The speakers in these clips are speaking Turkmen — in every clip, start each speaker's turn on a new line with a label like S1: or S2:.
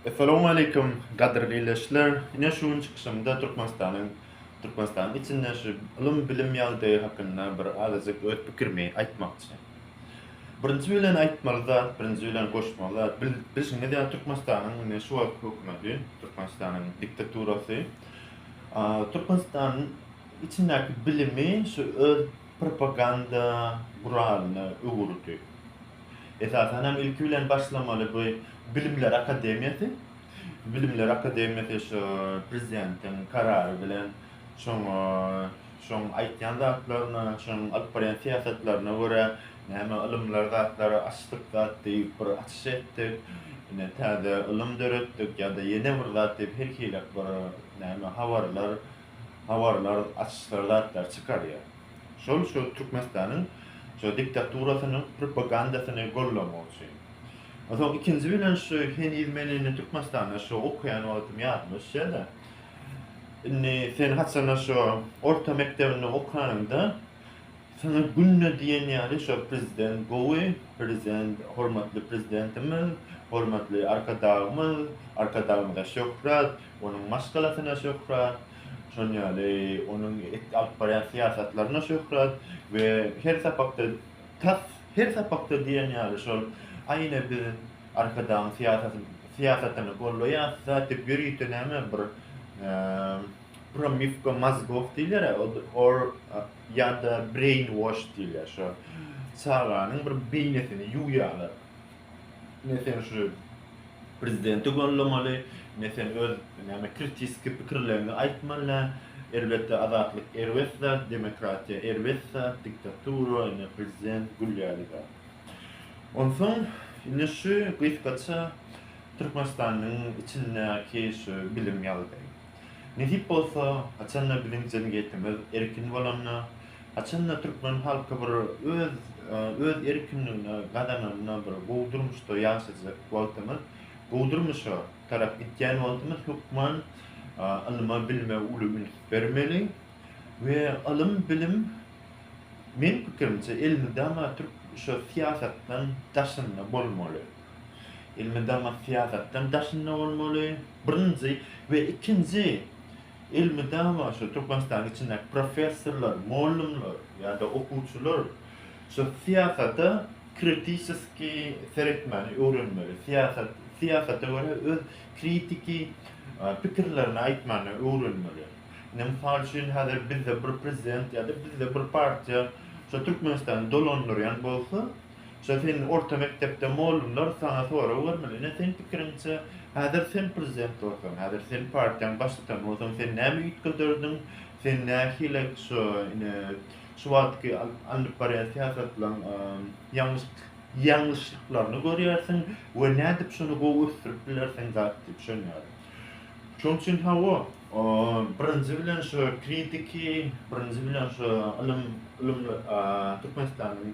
S1: Essalamu aleýkum, gadyrly ildeşler! Ine şu gün çykyşymda Türkmenistanyň Türkmenistanyň içinde şu ylym-bilim ýagdaýy hakynda bir azajyk öz pikirimi aýtmakçy. Birinji bilen aýtmaly zat, birinji bilen goşmaly zat, bil bilşiňiz ýaly Türkmenistanyň indi şu wagtky hökümeti, Türkmenistanyň diktaturasy a Türkmenistanyň içindäki bilimi şu öz propaganda guralyna öwürdi. Esasan hem ilki bilen başlamaly bu Bilimler akademiýasy. Bilimler akademiýasy şu prezidentiň karary bilen şoňa şoň aýtýan zatlaryna, şoň alyp barýan syýasatlaryna görä näme ylymlar zatlary açdyk zat diýip bir açyş etdik. Ine täze ylym döretdik ýa-da ýene bir zat diýip her hili bir näme habarlar habarlar açyşlar zatlar çykarýar. Şol şu Türkmenistanyň şu diktaturasynyň propagandasyny gollanmak üçin. Onsoň ikinji bilen şu heniz men indi Türkmenistanda şu okaýan wagtym ýadyma düşýä-de, indi sen haçanda şu orta mekdebinde okanyňda saňa günde diýen ýaly şu prezident gowy, prezident hormatly prezidentimiz, hormatly Arkadagymyz, Arkadagymyza şöhrat, onuň maşgalasyna şöhrat, Şol ýaly onuň alyp barýan syýasatlaryna şöhrat we her sapakda tas her sapakda diýen ýaly şol aýna biz Arkadagyň syýasatyny syýasatyny gollaýas da diýip ýörite näme bir promywka mozgow diýilýär or ýa-da brain wash diýilýär şo çaganyň bir beýnesini ýuwýarlar. Ne sen şu prezidenti gollamaly, ne sen öz näme kritiski pikirleriňi aýtmalä. Elbetde azatlyk erbet zat, demokratiýa erbet zat, diktatura ine prezident gül ýaly zat. Onsoň indi şu gysgaça Türkmenistanyň içindäki şu bilim ýagdaýy. Nesip bolsa haçanda biziň jemgyýetimiz erkin bolanda, Haçanda türkmen halky bir öz öz erkinligini gazananda bir gowy durmuşda ýaşajak wagtymyz, gowy durmuşa tarap gitýän wagtymyz hökman ylyma, bilime uly üns bermeli we ylym, bilim meň pikirimçe elmydama türk şu syýasatdan daşynda bolmaly. Elmydama syýasatdan daşynda bolmaly. Birinji we ikinji Ylmy dawa şu Türkmenistanyň içindäki professorlar, mollumlar ýa-da okuwçylar şu syýasata kritiseski seretmäni öwrenmeli. Syýasat, syýasata görä öz kritiki pikirlerini aýtmany öwrenmeli. Indi mysal üçin häzir bizde bir prezident ýa-da bizde bir partiýa şu Türkmenistany dolandyrýan bolsa, Şo sen orta mekdepde molumlar saňa sorag bermeli, ine sen pikiriňçe häzir sen prezident bolsaň, häzir sen partiýaň baştutan bolsaň sen näme üýtgederdiň, sen nähili şo ine şu wagtky alnyp barýan syýasatlaň ýalňyşlyklaryny görýärsiň we nädip şony gowy ösdürip bilersiň zat diýip düşünýärin. Şoň üçin hawa birinji bilen şo kritiki, birinji bilen şo ylym ylym Türkmenistanyň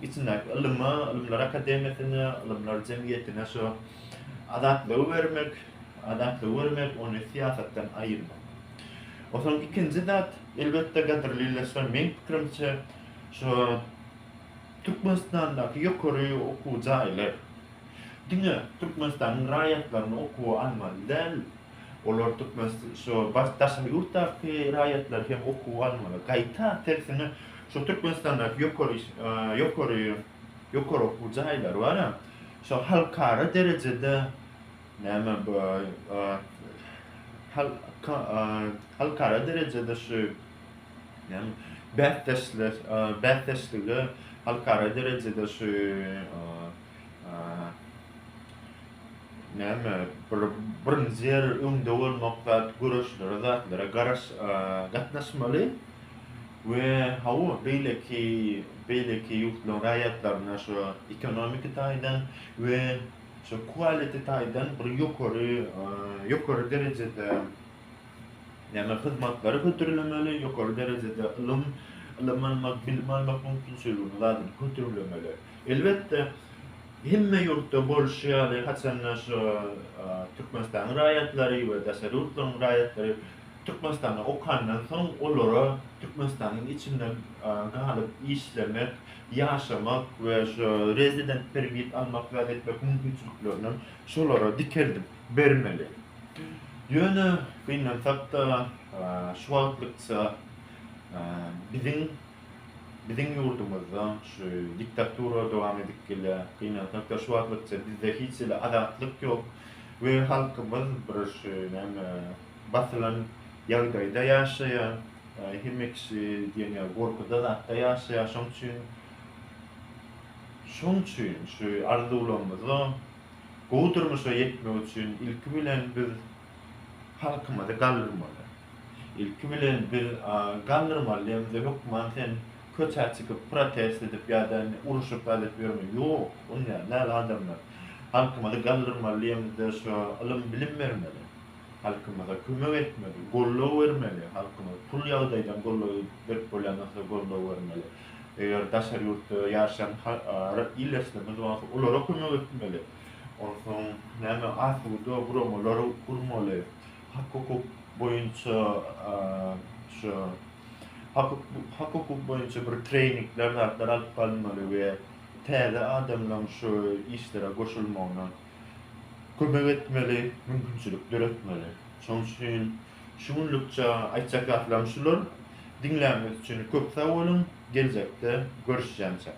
S1: içindäki ylyma, Ylymlar akademiýasyna, Ylymlar jemgyýetine şu azatlygy bermek, azatlygy bermek, ony syýasatdan aýyrmak. Onsoň ikinji zat, elbetde, gadyrly ildeşler, meň pikirimçe, şu Türkmenistandaky ýokary okuw jaýlar diňe Türkmenistanyň raýatlaryny okuwa almaly däl, Olar Türkmenistan şu baş daşary ýurtdaky raýatlary hem okuwa almaly. Gaýta, tersine, şu Türkmenistandaky ýokary ýokary ýokary okuw jaýlary bar a, şu halkara derejede näme bu hal ka halkara derejede şu näme bäsdeşler bäsdeşlige halkara derejede şu Näme bir birinji ýer öňde bolmak zat göreşlere zatlara garaş gatnaşmaly we hawa beýleki beýleki ýurtlaryň raýatlaryna şu ekonomiki taýdan we şu quality taýdan bir ýokary ýokary derejede näme hyzmatlary hödürlemeli ýokary derejede ylym ylym almak bilim almak mümkinçiligini zadyny hödürlemeli. Elbetde, hemme ýurtda bolşy ýaly, haçan-da şu Türkmenistanyň raýatlary we daşary ýurtlaryň raýatlary Türkmenistanda okandan soň, olara Türkmenistanyň içinde galyp işlemek, ýaşamak we şu resident permit almak zat etmek mümkinçiliklerinem şolara dikeldip bermeli. Ýöne, gynansak-da, şu wagtlykça biziň Biziň ýurdumyzda şu diktatura dowam edip gelýär. Gynansak-da şu wagtlygyça bizde hiç hili azatlyk ýok we halkymyz bir şu näme basylan ýagdaýda ýaşaýar. Hemme kişi diýen ýaly gorkuda zatda ýaşaýar. Şoň üçin şoň üçin şu arzuwlarymyza gowy durmuşa ýetmek üçin ilki bilen biz halkymyzy galdyrmaly. Ilki bilen biz galdyrmaly diýemizde hökman sen köçä çykyp protest edip ýa-da uruşyp alyp ýörme. Ýok, onýan däl adamlar. Halkymyzy galdyrmaly diýemizde şo ylym bilim bermeli. Halkymyza kömek etmeli, goldaw bermeli. Halkymyzy pul ýagdaýdan goldaw berip bolýan bolsa goldaw bermeli. Eger daşary ýurtda ýaşaýan ildeşlerimiz bolsa olara kömek etmeli. Onsoň näme asuda guramalar gurmaly? Hak-hukuk boýunça şu hak-hukuk boýunça bir treýningler zatlar alyp galmaly we täze adamlaryň şu işlere goşulmagyna kömek etmeli, mümkinçilik döretmeli. Şonuň üçin şu günlükçe aýtjak zatlarym şular. Diňlänimiz üçin köp sag boluň, geljekde görüşýänçäk.